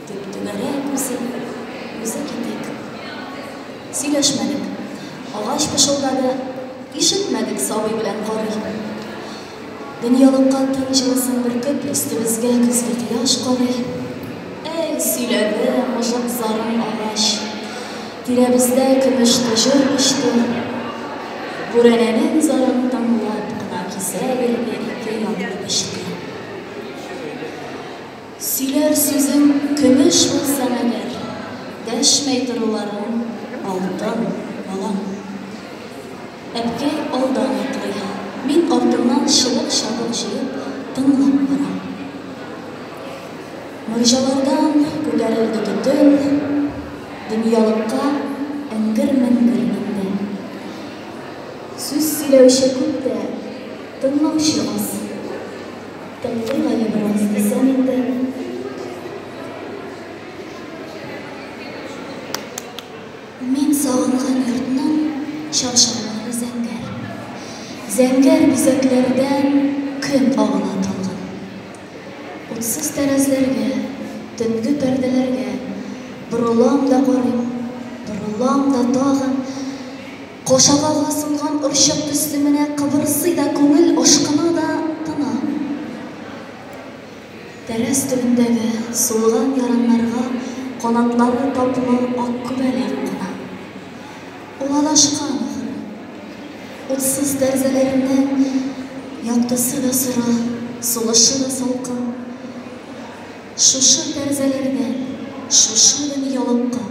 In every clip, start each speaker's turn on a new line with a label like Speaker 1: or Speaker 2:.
Speaker 1: Дип Төнәгә үзе юк, үзе китик. Сөйләшмәдек. Агач пышылдады, ишетмәдек сабый белән карый. Дөньялыкка киң җылысын бөркеп, өстебезгә көзге кояш карый. Әй, сөйләде мыжык зарын агач. Тирәбездә көмеш таҗыр очты. Бүрәнәнең зарын тыңлап кына кисә бирде ике янлы печти. Сөйләр сүзең көмеш булсаң әгәр, Дәшмәй торуларың алтын, балам. Әткәй алдан атлый, мин артыннан чыбык-чабык җыеп тыңлап барам. Морҗалардан күтәрелде төтен, дөньялыкка эңгер-меңгер менде. Сүз сөйләүче күп тә, тыңлаучы аз. Туктыйм әле бераз, дисәм инде. Мин сагынган йортның чаршаулары зәңгәр. Зәңгәр бизәкләрдән көн агыла талгын. Утсыз тәрәзләргә, төнге пәрдәләргә борылам да карыйм, борылам да тагын. Кашагалга сынган орчык төсле менә кыбырсый да күңел ашкына да тына. Тәрәз төбендәге сулган яраннарга канатлары таплы ак күбәләк куна. Ул адашкан, ахры. Утсыз тәрәзәләренең яктысы да соры, сулышы да салкын. Шушы тәрзәләрдә, шушы дөньялыкка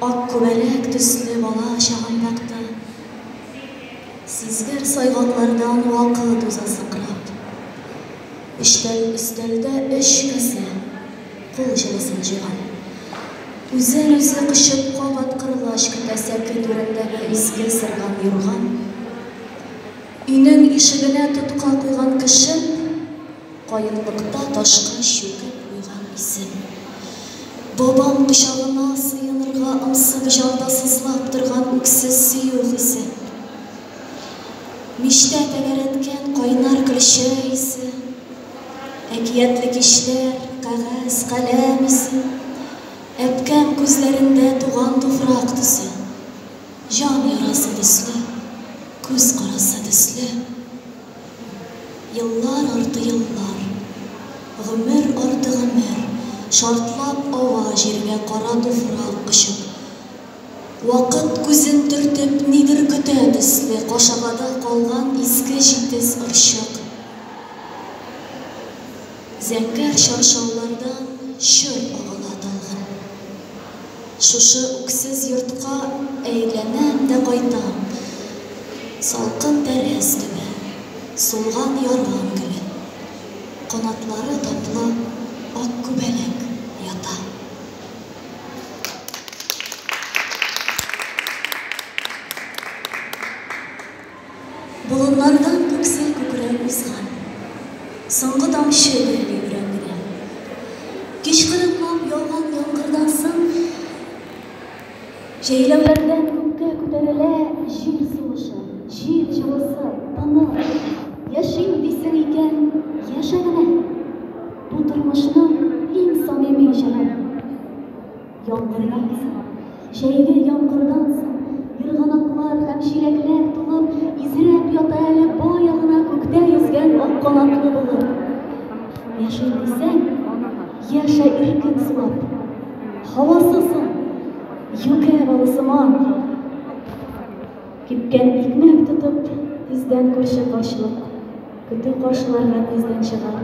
Speaker 1: ак күбәләк төсле бала чагым бакты. Сизгер сайгаклардан вакыт уза сыкрап. Өчтәү өстәлдә өч касә кул җылысын җыйган. Үзен-үзе кочып кабат кырылгач көтә сәке түрендәге изге сырган юрган. Өйнең ишегенә тотка куйган көчем. Каенлыкта ташка чүкеп куйган исем. Бабам кочагына сыенырга ымсып җанда сызлап торган үксез сөю хисе. Мичтә тәгәрәткән кайнар көлчә исе. Әкиятле кичләр, кәгазь, каләм исе. Әпкәм күзләрендә туган туфрак төсе. Җан ярасы төсле, күз карасы төсле. Еллар арты еллар. Гомер арты гомер. Шартлап ага җиргә кара туфрак очып. Вакыт күзен төртеп нидер көтә төсле кашагада калган иске җитез орчык. Зәңгәр чаршаулардан чор агыла талгын. Шушы үксез йортка әйләнәм дә кайтам, Салкын тәрәз төбе, сулган ярган гөле, Канатлары таплы ак күбәләк ята. Болыннардан күксел күкрәү узган. Соңгы тамчы бәрли өрәк генә. Кичкырынлап яуган яңгырдан соң җәйләүләрдән күккә күтәрелә җил сулышы, җил җылысы, тыныч. Яшим дисең икән, яшә генә! Бу тормышның иң самими җыры. Яңгырдан соң, җәйге яңгырдан соң, ерганаклар һәм чиләкләр тулып, изрәп ята әле бая гына күктә йөзгән ак канатлы булыр. Яши дисәң, яшә иркен сулап, һавасызын, юкә балысыман. Кипкән икмәк тотып, тиздән күрше карчылык, көтү каршыларына тиздән чыгар.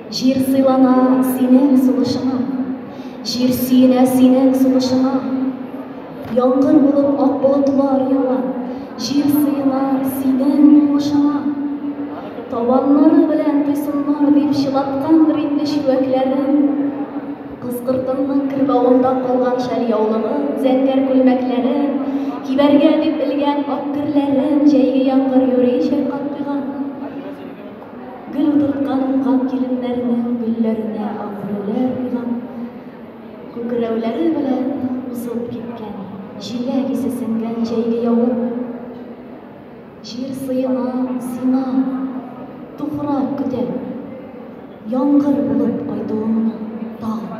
Speaker 1: Җир сыйлана синең сулышыңа, Җир сөенә синең сулышыңа. Яңгыр булып ак болытлар ява, Җир сыена синең уңышыңа. Табаннары белән тойсыннар дип чылаткандыр инде чүәкләрен. Кызкыртынның кырбавында калган шәл яулыгын, зәңгәр күлмәкләрен, кибәргә дип элгән ак герләрен җәйге яңгыр юри чайкап куйган. Гөл утырткан уңган киленнәрнең гөлләренә агреләр уйлап, күкрәүләре белән узып киткән, җиләк исе сеңгән җәйге явым. Җир сыена, сина, туфрак көтә. Яңгыр булып кайтуыңны тагын.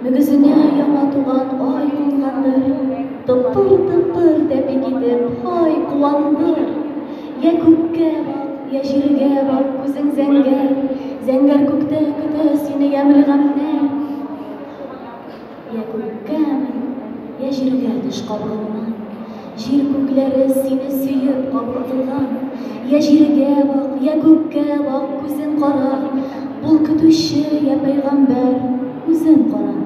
Speaker 1: Мөгезенә яңа туган ай кунгандыр, тыпыр-тыпыр тәпи китеп, һай, куандыр! Йә күккә бак, йә җиргә бак, күзең зәңгәр, зәңгәр күктә көтә сине ямьле гамьнәр. Йә күккә мен, йә җиргә төш кабыгыннан, Җир күкләре сине сөеп калкытылган. Я җиргә бак, я күккә бак, күзен кара. Бул көтүче, я пәйгамбәр, үзен кара.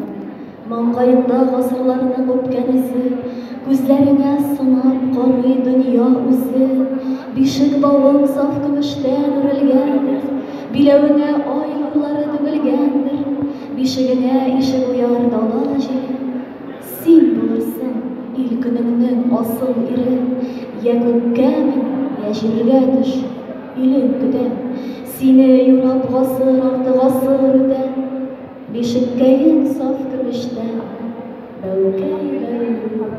Speaker 1: Маңгаеңда гасырларның үпкән эзе, Күзләреңә сынап карый дөнья үзе. Бишек бавың саф көмештән үрелгән, Биләвеңә ай нурлары түгелгәндер. Бишегеңә ишек уяр дала җил, Син булырсың ил көнеңнең асыл ире, Йә күккә мин, йә җиргә төш, илең көтә. Сине юрап гасыр арты гасыр үтә, Бишеккәең саф көмештән, бәүкәй бәйле ул.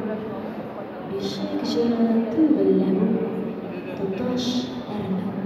Speaker 1: Бишек җыры түгел лә бу, тоташ әрнү.